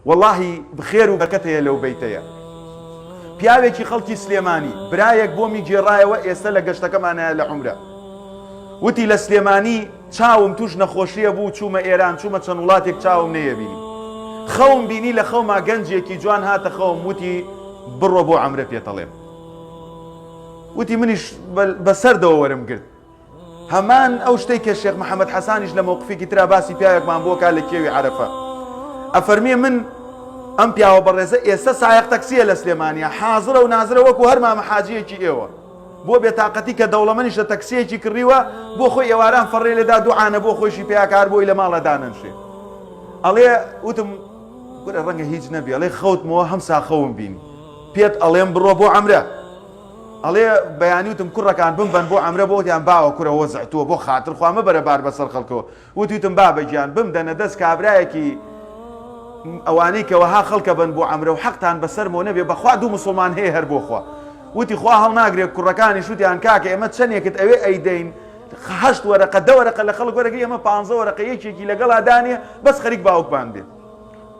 وەڵاهی خێر و بەرکەت هەیە لەو بەیتەیە. پیاوێکی خەڵکی سلێمانی برایەک بۆمی گێڕایەوە ئێستا لە گەشتەکەمانە لە عمرە وتی لە سلێمانی چاوم توش نەخۆشیە بوو چوومە ئێران چوومە چەند وڵاتێک چاوم نەیەبینی خەوم بینی لە خەوما گەنجێکی جوان هاتە خەوم وتی بڕۆ بۆ ئەمرە پێتەڵێم وتی منیش بەسەردەوە وەرم گرت هەمان ئەو شتەی کە شێخ محەممەد حەسانیش لە مەوقفێکی تررا باسی پیاوێکمان بۆ کا لە کێوی عرفە ئەفەرمیێ من ئەم پیاوە بەڕێزە ئێستا سایق تەکسیە لە سلێمانیا حازرە و نازرە وەکو هەر مامە حاجیەکی ئێوە بۆ بێتاقەتی کە دەوڵەمەنیش لە تەکسیەکی کڕیوە بۆ خۆی ئێواران فەڕێ لێدا دوعاانە بۆ خۆشی پیاکار بۆی لە ماڵە دانەنشێ ئەڵێ وتم گورە ڕەنگە هیچ نەبێ ئەڵێ خەوتمەوە هەم ساخەوم بینی پێت ئەڵێم بڕۆ بۆ ئەمرە ئەڵێ بەیانی وتم کوڕەکان بمبەن بۆ عەمرە بۆ وتیان باوە کورە وەزع تۆ بۆ خاتر خوا مەبەرە بار بەسەر خەڵکەوە وتی وتم بابە گیان بمدەنە دەست کابرایەکی ئەوانەی کە وەها خەڵکە بن بۆ عەمرە و حەقتان بەسەرمەوە نەبێ بەخوا دوو مسوڵمان هەیە هەر بۆ خوا وتی خوا هەڵناگرێ کوڕەکانیش وتیان کاکە ئێمە چەندێکت ئەوێ ئەیدەین هەشت وەرەقە دە وەرەقە لە خەڵک وەرەگری ئەمە پانزە وەرەقە یەکێکی لەگەڵا دانێ بەس خەریک باوکمان بێ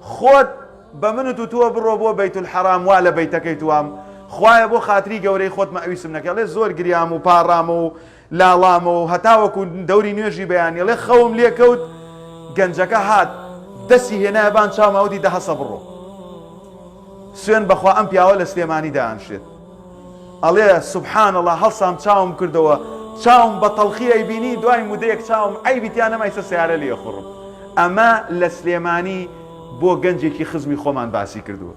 خۆت بە منت وتووە بڕۆ بۆ بەیت الحرام وا لە بەیتەکەی توام خوایە بۆ خاتری گەورەی خۆت مئویسم نەکەی ئەڵێ زۆر گریام و پاڕامەوە و لاڵامەوە و هەتاوەکو دەوری نوێژی بەیانی ئەڵێ خەوم لێ کەوت گەنجەکە هات دەسی هێنایە بان چاوما وتی دە هەسە بڕۆ سوێن بەخوا ئەم پیاوە لە سلێمانی دایانشێت. ئەڵێ، سبحان اللە، هەڵسام چاوم کردەوە، چاوم بە تەڵخی ئەیبینی، دوای مدەیەک چاوم عەیبی تیا نەما ئیستا سەیارە لێ ئەخوڕم. ئەمە لە سلێمانی بۆ گەنجێکی خزمی خۆمان باسی کردووە.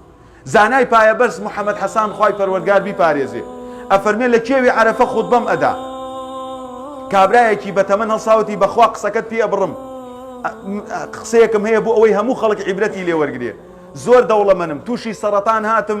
زانای پایەبەرز محەمەد حەسان خوای پەروەردگار بیپارێزێ ئەفەرمێ لە کێوی عەرەفە خوتبەم ئەدا، کابرایەکی بە تەمەن هەڵساوتی بە خوا قسەکەت پێ ئەبڕم، قسەیەکم هەیە بۆ ئەوەی هەموو خەڵک عیبرەتی لێ وەرگرێ، زۆر دەوڵەمەنم، تووشی سەڕەتان هاتم،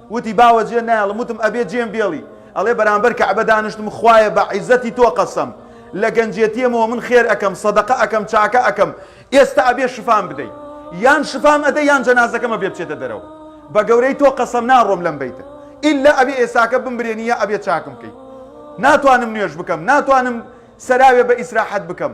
وتی باوە جێ نایەڵم وتم ئەبێ جێم بێڵی ئەڵێ بەرامبەر کەعبە دانشتم خوایە بە عیزەتی تۆ قەسەم لە گەنجێتیەمەوە من خێر ئەکەم سەدەقە ئەکەم چاکە ئەکەم ئێستا ئەبێ شفام بدەی یان شفام ئەدە یان جەنازەکەمە بێ بچێتە دەرەوە بە گەورەی تۆ قەسەم ناڕۆم لەم بیتە ئللا ئەبێ ئێساکە بمبرێنی یا ئەبێ چاکم بکەی ناتوانم نوێش بکەم ناتوانم سەراوێ بە ئیسراحەت بکەم